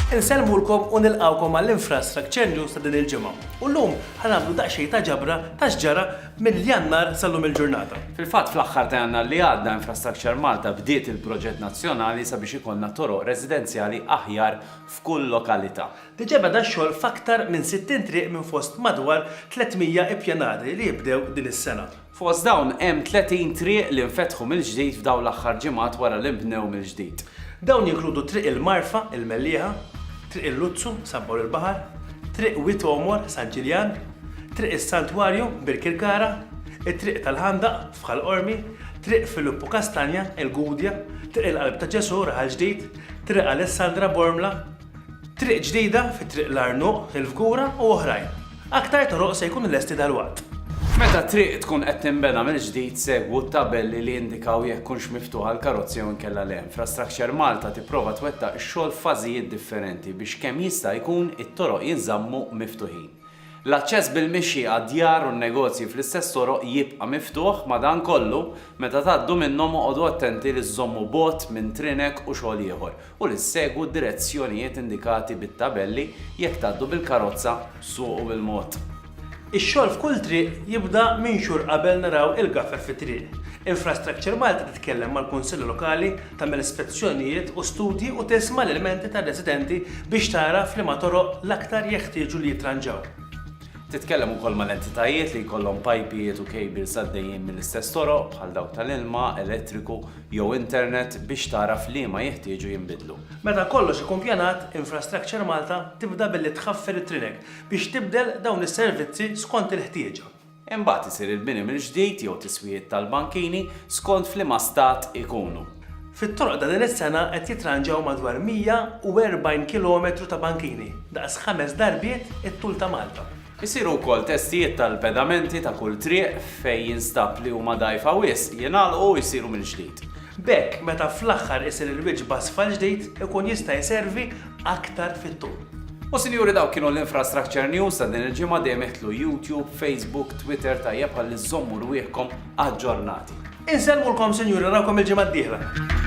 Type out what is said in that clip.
Insellmulkom u nilqawkom għall-Infrastructure News ta' din il-ġimgħa. U llum ħanamlu daqsxejn ta' ġabra ta' x'ġara minn Jannar sal-lum il-ġurnata. Fil-fatt fl-aħħar ta' Jannar li għadda Infrastructure Malta bdiet il-proġett nazzjonali sabiex ikollna toroq residenzjali aħjar f'kull lokalità. Diġà beda x-xogħol f'aktar minn 60 triq minn fost madwar 300 ippjanati li jibdew din is-sena. Fost dawn hemm 30 triq li nfetħu mill-ġdid f'dawn l-aħħar ġimgħat wara li nbnew mill-ġdid. Dawn jinkludu Triq il-Marfa, il-Mellieħa, Triq il-Luzzu, San Pawl il-Baħar, Triq Wied Għomor, San Ġiljan, Triq is-Santwarju, Birkirkara, it-Triq tal-Ħandaq, f'Ħal Qormi, Triq Filippu Kastanja, il-Gudja, Triq il-Qalb ta' Ġesù, Raħal Ġdid, Triq Alessandra, Bormla, Triq ġdida fi Triq l-Għarnuq, il-Fgura u oħrajn. Aktar toroq se jkunu lesti dalwaqt. Meta triq tkun qed tinbena mill-ġdid segwu t-tabelli li jindikaw jekk tkunx miftuħa għall-karozzi jew inkella le. Infrastructure Malta tipprova twettaq ix-xogħol f'fażijiet differenti biex kemm jista' jkun it-toroq jinżammu miftuħin. L-aċċess bil-mixi għad-djar u n-negozji fl-istess toroq jibqa' miftuħ, madankollu, meta tgħaddu minnhom oqogħdu attenti li żżommu bogħod minn trinek u xogħol ieħor. u li ssegwu d-direzzjonijiet indikati bit-tabelli jekk tgħaddu bil-karozza, suqu bil-mod. Ix-xogħol f'kull triq jibda minn xhur qabel naraw il-gaffer fit-triq. Infrastructure Malta titkellem mal-Kunsilli Lokali, tagħmel spezzjonijiet u studji u tisma' l-ilmenti tar-residenti biex tara f'liema toroq l-aktar jeħtieġu li jittranġaw. Titkellem ukoll mal-entitajiet li jkollhom pajpijiet u kejbils għaddejjin mill-istess toroq, bħal dawk tal-ilma, elettriku, jew internet biex tagħraf liema jeħtieġu jinbidlu. Meta kollox ikun pjanat, Infrastructure Malta tibda billi tħaffir it-trinek biex tibdel dawn is-servizzi skont il-ħtieġa. Imbagħad isir il-bini mill-ġdid jew tiswijiet tal-bankini skont f'liema stat ikunu. Fit-toroq ta' din is-sena qed jitranġaw madwar 140 kilometru ta' bankini, daqs ħames darbiet it-tul ta' Malta. Isiru wkoll testijiet tal-pedamenti ta' kull triq fejn jinstab li huma dgħajfa wisq, jingħalqu u jsiru mill-ġdid. B'hekk meta fl-aħħar isir il-wiċċ b'asfalt ġdid ikun jista' jservi aktar fit-tul. U sinjuri dawk kienu l-Infrastructure News ta' din il-ġimgħa dejjem iħtlu YouTube, Facebook, Twitter tajjeb ħalli żżommu rwieħkom aġġornati. Insellmulkom sinjuri narawkom il-ġimgħa d-dieħla.